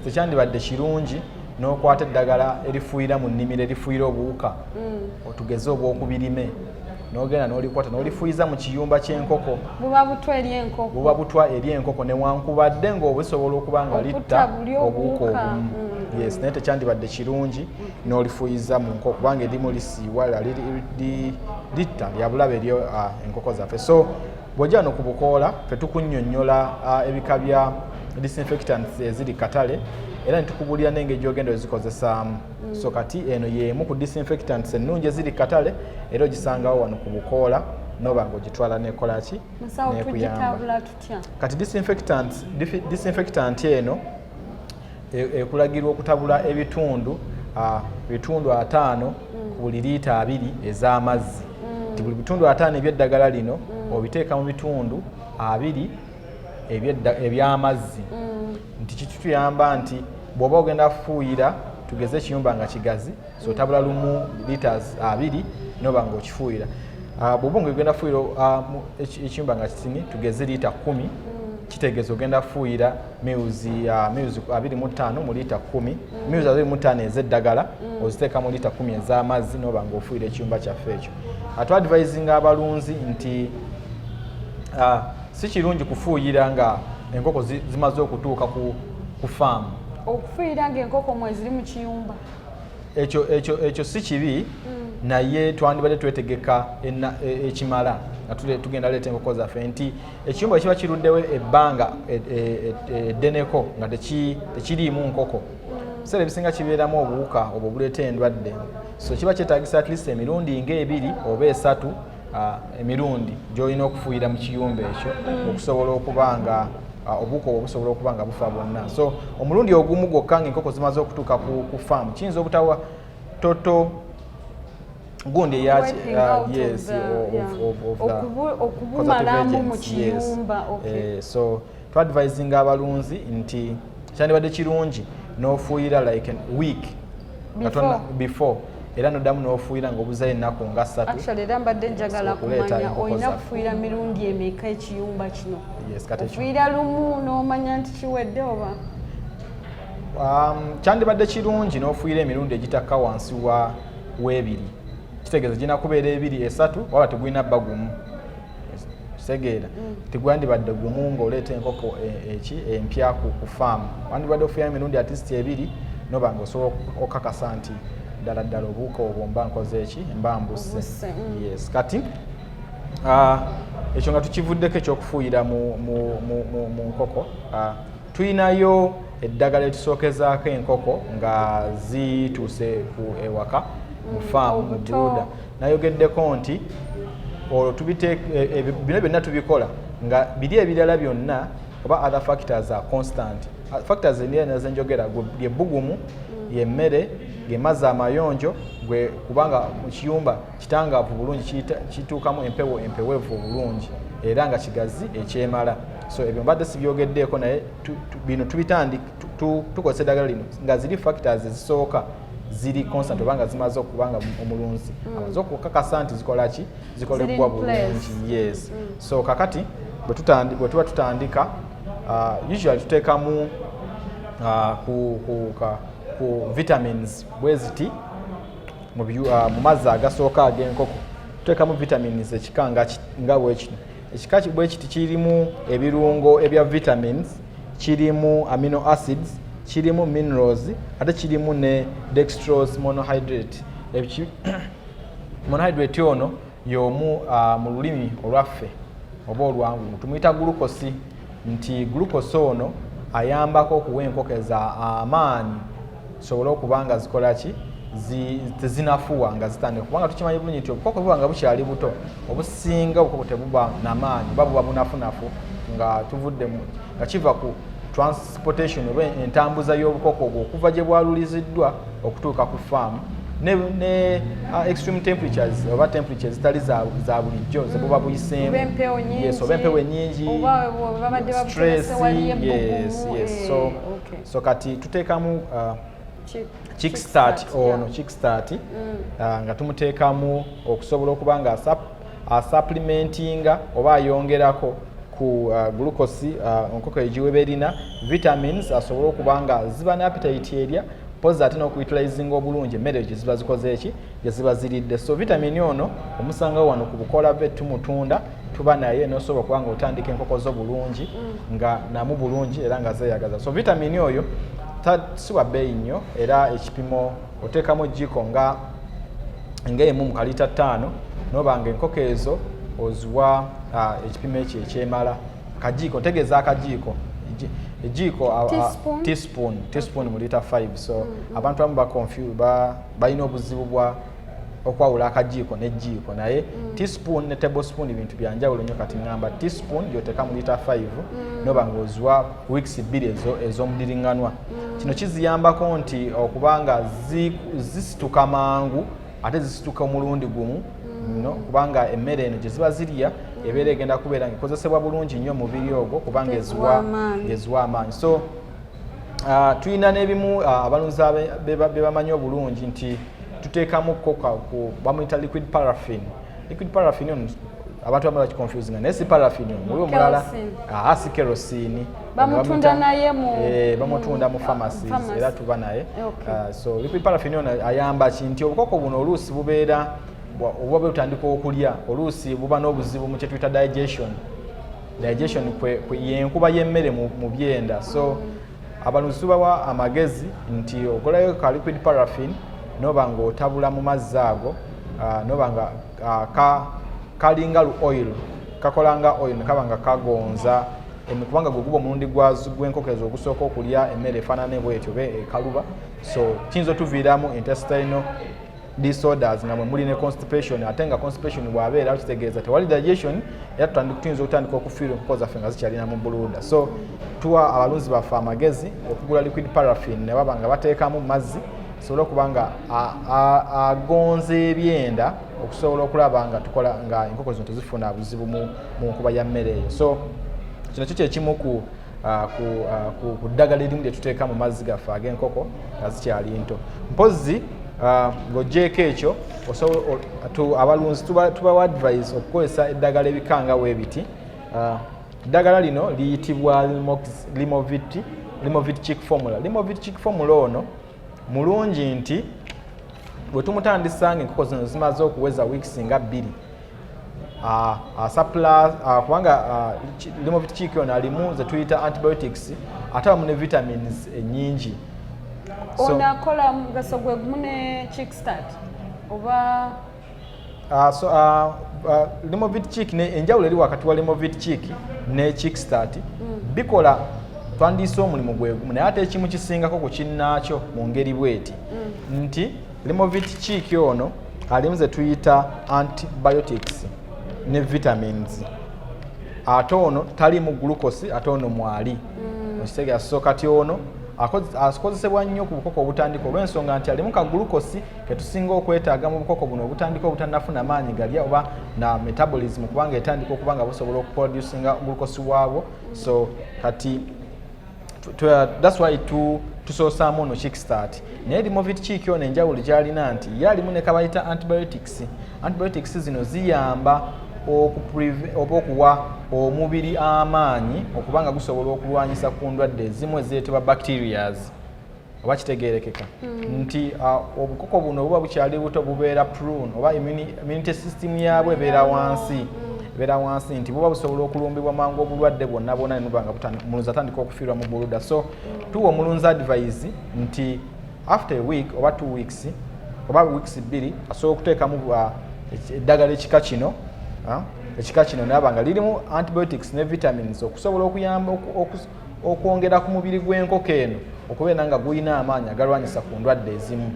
tekyandibadde kirungi n'okwata eddagala erifuuyira mu nnimiro erifuuyira obuwuka mm. otugeze obw'okubirime nogenda nolikwata nolifuyiza mu kiyumba kyenkoko buba butwa eri enkoko buba butwa eri enkoko newankubadde ngaobusobola okuba nga litta obuuka obumu mm. yes naye tekyandibadde kirungi mm. nolifuyiza mu nkoko kubanga erimu lisiiwala litta lyabulabe eri ah, enkoko zaffe so bwojja no ku bukoola fe tukunyonyola ah, ebika bya disinfectants eziri katale era netukubuulira nengeri gyogenda ozikozesaamu mm. so kati eno yemu ku disinfectants ennungi eziri katale era ogisangawo wano ku bukoola noba nga ogitwala nekolaki nekuyamba kati disinfectant eno e, ekulagirwa okutabula ebitundu bitundu ataano mm. ku buli liita abiri ez'amazzi mm. nti buli bitundu ataano ebyeddagala lino mm. obiteeka mu bitundu abiri ebyamazzi mm. nti kitutuyamba nti bwoba ogenda kufuuyira tugeze ekiyumba nga kigazi so tabula lumu litas abiri noba nga okifuuyira ah, bwoba nga ogenda kufuuyira ah, ekiyumba nga kitini tugeze liita kumi mm. kitegeeza ogenda kufuuyira miuzi ah, abiri mu ttaano mu liita kumi mm. miuzi abiri mu ttaano ez'eddagala oziteeka mu liita kumi ez'amazzi noba nga ofuuyira ekiyumba kyaffe ekyo atwadvisinga abalunzi nti si kirungi kufuuyira nga enkoko zimaze okutuuka ku faamu okufuuyira nga enkoko mweziri mu kiyumba ekyo ekyo ekyo si kibi mm. naye twandibadde twetegeka e, ekimala nga tugenda leeta enkoko zaffe nti ekiyumba kiba kiruddewo ebbanga e, e, eddeneko nga tekiriimu nkoko ebiseera ebisinga kibeeramu obuwuka obwo buleeta endwadde so kiba kyetagisa at least emirundi nga ebiri oba esatu Ah, emirundi gyolina okufuuyira mu kiyumba ekyo mm. okusobola okuba nga ah, obuko obusobola okuba nga bufa bwonna so omulundi ogumu gwokka nga enkoko zimaze okutuuka ku faamu kiyinza obutawa toto gundi eyakiyes ah, okubumalamu mu kiyumba eh, so twadvisinga abalunzi nti kyandibadde kirungi n'ofuuyira like week before, before era noddamu n'ofuuyira ngaobuzayo ennaku nga ssatuera mbadde njagala kumanya olina kufuuyira mirundi emeka ekiyumba kino ofuuyira lumu n'omanya nti kiwedde oba um, kyandibadde kirungi n'ofuuyira emirundi egitakka wansi wa w'ebiri kitegeeza girina kubeera ebiri esatu waba tegulina bba gumu kitegeera mm. tigwandibadde gumu ngaoleeta enkoko e, eki empya ku faamu wandibadde ofuya emirundi atist ebiri noba nga osobola okakasa nti ddala ddala obuuka obwo mba nkoze eki mba mbuse mm. yes kati ekyo nga tukivuddeko ekyokufuuyira mu nkoko tulinayo eddagala etusookezaako enkoko nga zituuse ku ewaka mu mm, faamu mu buluda nayogeddeko nti olwo e, e, bino byonna tubikola nga biri ebirala byonna oba other factors are constant factors nazenjogera lyebbugumu mm. yemmere gemazzi amayonjo gwe kubanga mukiyumba kitangaavu bulungi kituukamu empewo empewevu obulungi era nga kigazi ekyemala so ebyo mbadde sibyogeddeeko naye bino tubitandik tukozesa eddagala lino nga ziri factors ezisooka ziri constant oba nga zimaze okuba nga omulunzi mm. amaze okukakasa nti zikola ki zikolebbwa bulungi yes mm. so kakati bwe tuba tutandika uh, usually tuteekamu uh, ku, ku, ka, ku vitamins bweziti mu uh, mazzi agasooka ag'enkoko tuteekamu vitamins ekika nga bwekino ekika bwekiti kirimu ebirungo ebya vitamins kirimu amino acids kirimu minerals ate kirimu ne dextrose monohydrate monohydrate ono y'omu uh, mu lulimi olwaffe oba olwangu tumuyita gulukosi nti gulukosi ono ayambako okuwa enkoko eza amaanyi zisobole okuba nga zikola ki tezinafuwa nga zitandika kubanga tukimanyi bulungi nti obukoko buba nga bukyali buto obusinga obukoko tebuba namaanyi oba buba bunafunafu nga tuvudde nga kiva ku transportation oba entambuza y'obukoko obwo okuva gye bwaluliziddwa okutuuka ku faamu ne, ne uh, extreme temperatures oba temperatures zitali za, za bulijjo zebuba buyiseemu yes, oba empewo enyingi stress yes, yes. so eh, so kati tuteekamu uh, kickstart ono kickstart mm. uh, nga tumuteekamu okusobola okuba nga asapplimentinga oba ayongerako ku uh, glucose uh, onkoko egiweba erina vitamins asobole okuba nga ziba ne appetite erya pozi ate n'okuyitulayizinga obulungi emmere gye ziba zikoze eki gye ziba ziridde so vitamini ono omusangawo wano ku bukola bwe tumutunda tuba naye nosobola okuba nga otandika enkoko zo bulungi mm. nga namu bulungi era nga zeyagaza so vitamini oyo siwa bbeeyi nnyo era ekipimo oteekamu ejjiiko nga ngaemu mu kaliita ttaano noba nga enkoko ezo oziwa ekipimo ekyo ekyemala kajiiko ntegeeza akajiiko ejiiko teaspoon teaspoon mu liita 5 so mm, mm. abantu abamu balina obuzibu bwa okwawula akajiiko nejiiko naye mm. teaspoon ne table spoon bintu byanjawulo nyo kati ngamba teaspoon gyoteka mu lita 5 mm. noba ngaoziwa weeks bbiri ezo ezomudiringanwa mm. kino kiziyambako nti okubanga zisituka mangu ate zisituka omulundi gumu mm. no kubanga emmere eno gyeziba zirya mm. ebeera egenda kubeera nga ekozesebwa bulungi nnyo mubiri ogwo kubanga eziwa amaanyi so Ah, tulina n'ebimu ah, abalunzi be bamanyi obulungi nti tuteekamu koka ku bamuyita liquid paraffin liquid paraffin on abantu bamala kiconfusinga naye si paraffin on muliwo mulala aa ah, si kerosini bamutunda naye mu eh, bamutunda mu pharmacies era tuba naye so liquid paraffin on ayamba ki nti obukoko buno oluusi bubeera obuba butandika okulya oluusi buba n'obuzibu mu kyetuyita digestion digestion yenkuba yemmere mu byenda so abalunzi tubawa amagezi nti ogolayo ka liquid paraffin noba nga otabula mu mazzi ago ah, noba nga ah, kalinga lu oil kakola nga oil nekaba nga kagonza kubanga gweguba omulundi gwenkokezo ogusooka okulya emmere efaanana ebwetyo be ekaluba so kiyinza otuviiramu intestinal disorders nga mwe muli ne constipation ate nga constipation bwabeera kitegeeza tewali digestion era tutandika tuyinza okutandika okufiirwa enkoko zaffe nga zikyalina mu buluuda so tuwa abalunzi baffe amagezi okugula liquid paraffin ne baba nga bateekamu mazzi tusobole okuba nga agonza ebyenda okusobola okulaba nga tukola nga enkoko zino tezifuna buzibu mu nkuba ya mmere eyo so kino kyo kyekimu ku Ah, ah, ku ddagala erimu lye tuteeka mu mazzi gaffe ag'enkoko nga zikyali nto mpozzi ah, ng'ogyeko ekyo abalunzi tubawa advise okukozesa eddagala ebikanga webiti eddagala lino liyitibwa limovit chick formula limovit chick formula ono mulungi nti bwe tumutandisa nga enkoko zino zimaze okuweza wiikisi nga bbiri Ah, ah, supply ah, kubanga limo vitikiki ono alimu zetuyita antibiotics ate abamu ne vitamins enyingi eh, ono akola mugaso gwe gumu ne kickstart oba limo vitikiki enjawulo eri wakati wa limo vitikiki ne kickstart mm. bikola twandiise omulimu gwe gumu naye ate ekimu kisingako ku kinnaakyo mu ngeri bweti mm. nti Limovit kiiki ono alimu ze tuyita antibiotics ne vitamins ate ono talimu glukosi ate ono mwali mm. okitegera so kati ono akozesebwa nnyo ku bukoko obutandika olw'ensonga nti alimu ka glukosi ketusinga okwetaaga mu bukoko buno obutandika obutanafuna maanyi galya oba na metabolism kubanga etandika okuba nga busobola okuproducinga glukosi waabwo so kati that's why to tusoosaamu ono kickstart naye limovit kiiki ono enjawulo gyalina nti ye alimu ne kabayita antibiotics antibiotics zino ziyamba oba okuwa omubiri amaanyi okuba nga gusobola okulwanyisa ku ndwadde ezimu ezireetebwa bacterias oba kitegeerekeka hmm. nti uh, obukoko buno buba bukyali buto bubeera prune oba immunity system yaabwe ebeera wansi hmm. ebeera wansi nti buba busobola okulumbibwa mangu obulwadde bwonna bwona nenuba nga omulunzi atandika okufiirwa mu buluda so hmm. tuwa omulunzi advise nti after a week oba two weeks oba weeks bbiri asobola okuteekamu uh, eddagala ekika kino uh, ekika kino naaba nga lirimu antibiotics ne vitamins okusobola okuyamba okwongera ku mubiri gw'enkoko eno okubeera nga gulina amaanyi agalwanyisa ku ndwadde ezimu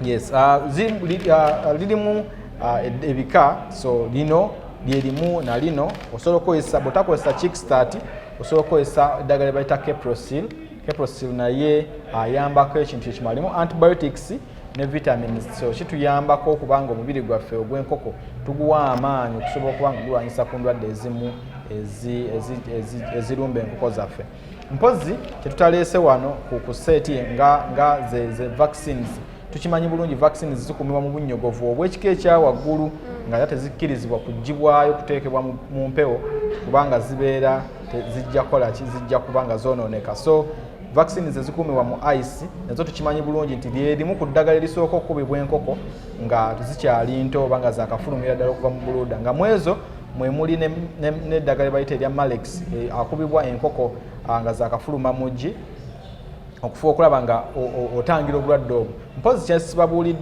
yes uh, uh, lirimu uh, ebika so lino lyerimu na lino osobola okukozesa bwotakozesa kickstart osobola okukozesa eddagala lyebayita caprosil caprosil naye ayambako ekintu kyekimalimu antibiotics ne vitamins so kituyambako okuba nga omubiri gwaffe ogw'enkoko tuguwa amaanyi okusobola okuba nga gulwanyisa ku ndwadde ezimu ezirumba enkoko zaffe mpozi kyetutaleese wano ku kuseeti nga ze vaccines tukimanyi bulungi vaccines zikuumibwa mu bunyogovu obw'ekika ekyawaggulu nga era tezikkirizibwa kugibwayo kuteekebwa mu mpewo kubanga zibeera zijja kukola ki zijja kuba nga zoonooneka so vaccine ze zikuumibwa mu ice nazo tukimanyi bulungi nti lyerimu ku ddagala erisooka okukubibwa enkoko nga zikyali nto oba nga zakafulumira ddala okuva mu buluuda nga mwezo mwe muli n'eddagala ebayita erya malex e, akubibwa enkoko nga zakafuluma muggi okufuba okulaba nga otangira obulwadde obwo mpozi kyesibabuuli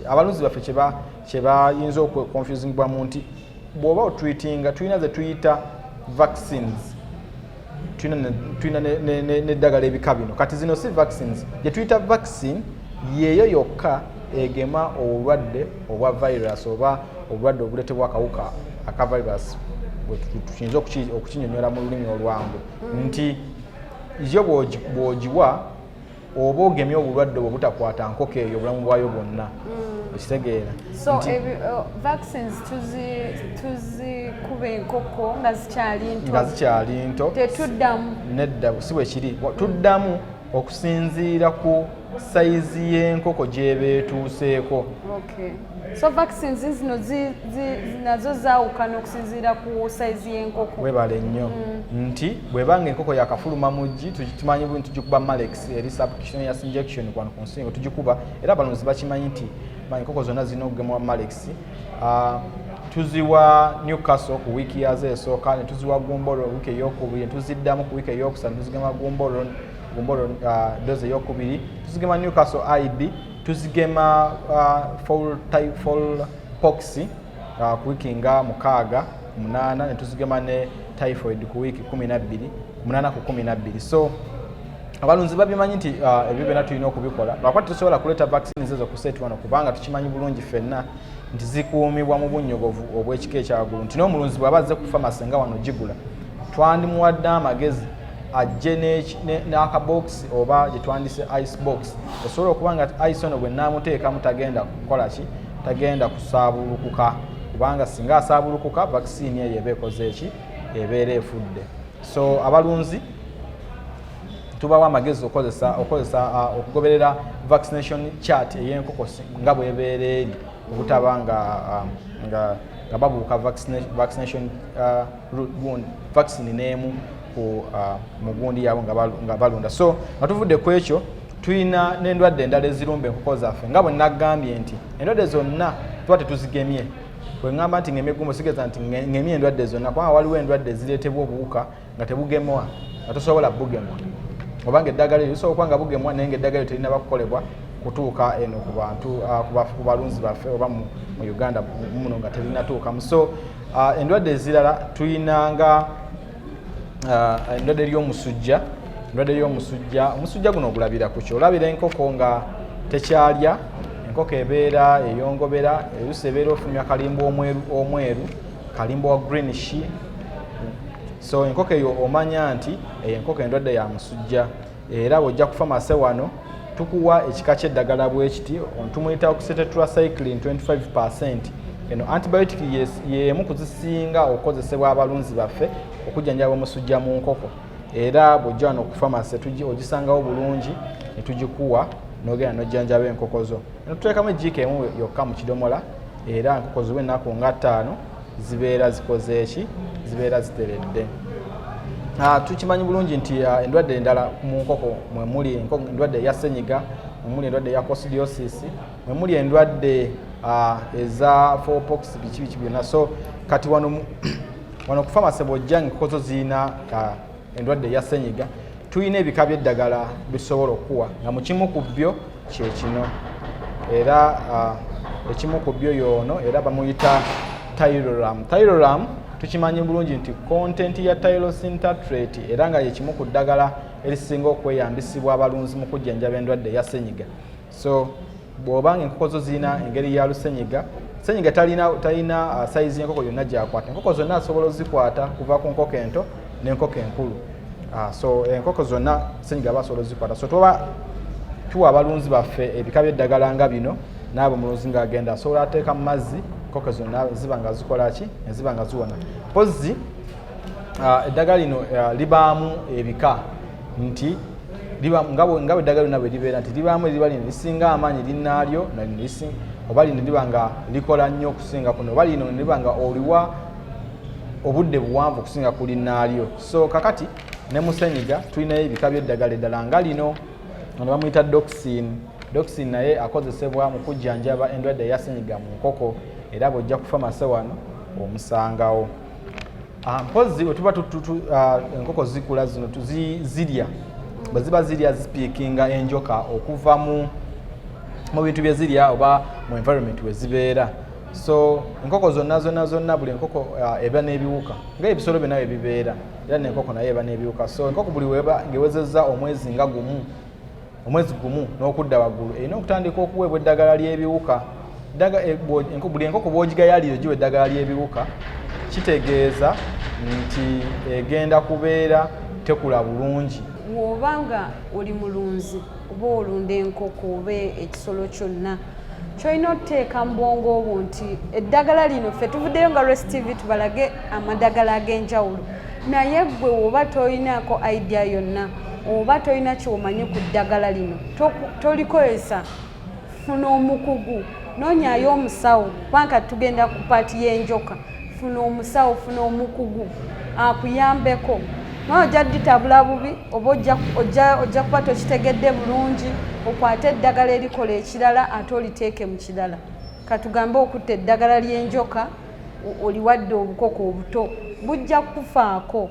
abalunzi baffe kyebayinza okukonfusingibwamu nti bw'oba otwitinga tulina ze tuyita vaccines tulina n'eddagala ebika bino kati zino si vaccines gye tuyita vaccine yeeyo yokka egema obulwadde obwa virus oba obulwadde obuletebwa akawuka aka virus bwetukinza okukinyonyola mu lulimi olwangu nti yo bwogiwa oba ogemye obulwadde obwo butakwata nkoko eyo obulamu bwayo bwonna mm. okitegeera so uh, vaccines tuzikuba enkoko nga zikyali nto nga zikyali nto tetuddamu nedda si bwe kiri tuddamu okusinziira ku sayizi y'enkoko gy'eba etuuseeko so vaccines zino nazo zaawukana okusinziira ku sayizi y'enkoko webale nnyo mm. nti bwebanga enkoko yakafuluma muggi tumanyi buli tugikuba malex eri subcutaneous injection kwano ku nsingo tugikuba era abalonzi bakimanyi nti enkoko zonna zirina okugemwa malex ah, tuziwa newcastle ku wiiki yazo esooka netuziwa gumbolo wiiki eyokubiri netuziddamu ku wiiki eyokusatu netuzigema gumbolo gumbolo uh, dozi eyokubiri tuzigema newcastle ib tuzigema uh, fall type fall pox uh, ku wiki nga mukaaga munaana ne tuzigema ne typhoid ku wiiki kumi nabbiri munaana ku kumi nabbiri so abalunzi babimanyi nti uh, ebyo byona tulina okubikola lwakuba tetusobola kuleeta vaccine zezo kuseeti wano kubanga tukimanyi bulungi fenna nti zikuumibwa mu bunyogovu obw'ekika ekyawaggulu nti n'omulunzi bw'aba azze ku famasi nga wano gigula twandimuwadde amagezi ajje n'akabookisi oba gye twandise ice box esobola okuba nga ice ono bwe naamuteekamu tagenda kukola ki tagenda kusaabulukuka kubanga singa asaabulukuka vaccine eyo eba ekoze eki ebeera efudde so abalunzi tubawa amagezi okozesa okozesa uh, okugoberera vaccination chart ey'enkoko nga bwebeera eri obutaba nga um, nga babuuka vaccination uh, vaccine n'emu ku uh, mugundi yaabwe nga balunda so nga tuvudde ku ekyo tulina n'endwadde endala ezirumba enkoko zaffe nga bwe nagambye nti endwadde zonna tuba tetuzigemye bweŋamba nti ngemigumbo sigeza nti ngemi endwadde zonna kubanga waliwo endwadde ezireetebwa obuwuka nga tebugemwa nga tosobola bugemwa oba nga eddagala eryo lisobola okuba nga bugemwa naye nga eddagala eryo terina bakukolebwa kutuuka eno ku bantu ah, ku balunzi baffe oba mu uganda muno nga terinatuukamu so Ah, endwadde ezirala tulinanga ah, endwadde ly'omusujja endwadde ly'omusujja omusujja guno ogulabira ku kyo olabira enkoko nga tekyalya enkoko ebeera eyongobera erusi ebeera ofumya kalimba omweru kalimba wa green she so enkoko eyo omanya nti eyo enkoko endwadde ya musujja era bw'ojja kufa mase wano tukuwa ekika ky'eddagala bwe kiti tumuyita okusetetracyclin 25 percent eno antibiotic y'emu ku zisinga okukozesebwa abalunzi baffe okujjanjaba omusujja mu nkoko era bw'ojja wano okufa mase ogisangawo bulungi ne tugikuwa n'ogenda n'ojjanjaba enkoko zo eno tuteekamu ejjiika emu yokka mu kidomola era enkoko ziwe ennaku nga ttaano zibeera zikoze eki zibeera ziteredde ah, tukimanyi bulungi nti ah, endwadde endala mu nkoko mwemuli endwadde eya senyiga mwemuli endwadde eya costidiosis mwemuli endwadde ah, eza fopox biki biki byonna so kati wano wano kufamasebojja enkoko zo zirina endwadde eya senyiga tulina ebika byeddagala bisobola okukuwa nga mukimu ku byo kyekino era uh, ekimu ku byo yoono era bamuyita tyroram tyroram tukimanyi bulungi nti content ya tyrosin tatrate era nga yekimu ku ddagala erisinga okweyambisibwa abalunzi mu kujjanjaba endwadde eya senyiga so bwoba nga enkoko zo zirina engeri ya lusenyiga senyiga talina talina uh, sayizi yenkoko yonna gyakwata enkoko zonna asobola ozikwata kuva ku nkoko ento nenkoko enkulu uh, so enkoko zonna senyiga aba asobola ozikwata so tuba tuwa abalunzi baffe ebika byeddagala nga bino naabo mulunzi nga agenda asobola ateeka mu mazzi enkoko zonna ziba nga zikola ki eziba nga ziwona mpozi uh, eddagala lino uh, libaamu ebika nti nga bwe eddagala lyonna bwe libeera nti libaamu eriba lino lisinga amaanyi linnaalyo oba lino liba nga likola nnyo okusinga kuno oba lino liba nga oliwa obudde buwanvu okusinga ku linnaalyo so kakati ne musenyiga tulinayo ebika by'eddagala eddala nga lino ono bamuyita doxin doxin naye akozesebwa mu kujjanjaba endwadde yasenyiga mu nkoko era bw'ojja ku famase wano omusangawo Ah, mpozzi bwe tuba ah, enkoko zikula zino zirya bwe ziba zirya zispiikinga enjoka okuva mu bintu bye zirya oba mu environment we zibeera so enkoko zonna zonna zonna buli enkoko ah, eba n'ebiwuka nga ebisolo byonna bye bibeera era nenkoko naye eba n'ebiwuka so enkoko buli ngewezezza omwezi nga gumu omwezi gumu n'okudda waggulu erina okutandika okuweebwa eddagala ly'ebiwuka eh, buli enkoko bwogigayalire giwa eddagala ly'ebiwuka kitegeeza nti egenda kubeera tekula bulungi wooba nga oli mulunzi oba olunda enkoko oba ekisolo kyonna kyolina okuteeka mu bwongo obwo nti eddagala lino ffe tuvuddeyo nga rest tv tubalage amadagala ag'enjawulo naye gwe woba tolinaako idea yonna oba tolina kyomanyi ku ddagala lino tolikozesa funa omukugu nonyayo omusawo kubanga tugenda ku paati y'enjoka funa omusawo funa omukugu akuyambeko naye ojja ditabula bubi oba ojja kuba tokitegedde bulungi okwate eddagala erikola ekirala ate oliteeke mu kirala katugambe okutta eddagala ly'enjoka oliwadde obukoko obuto bujja kukufaako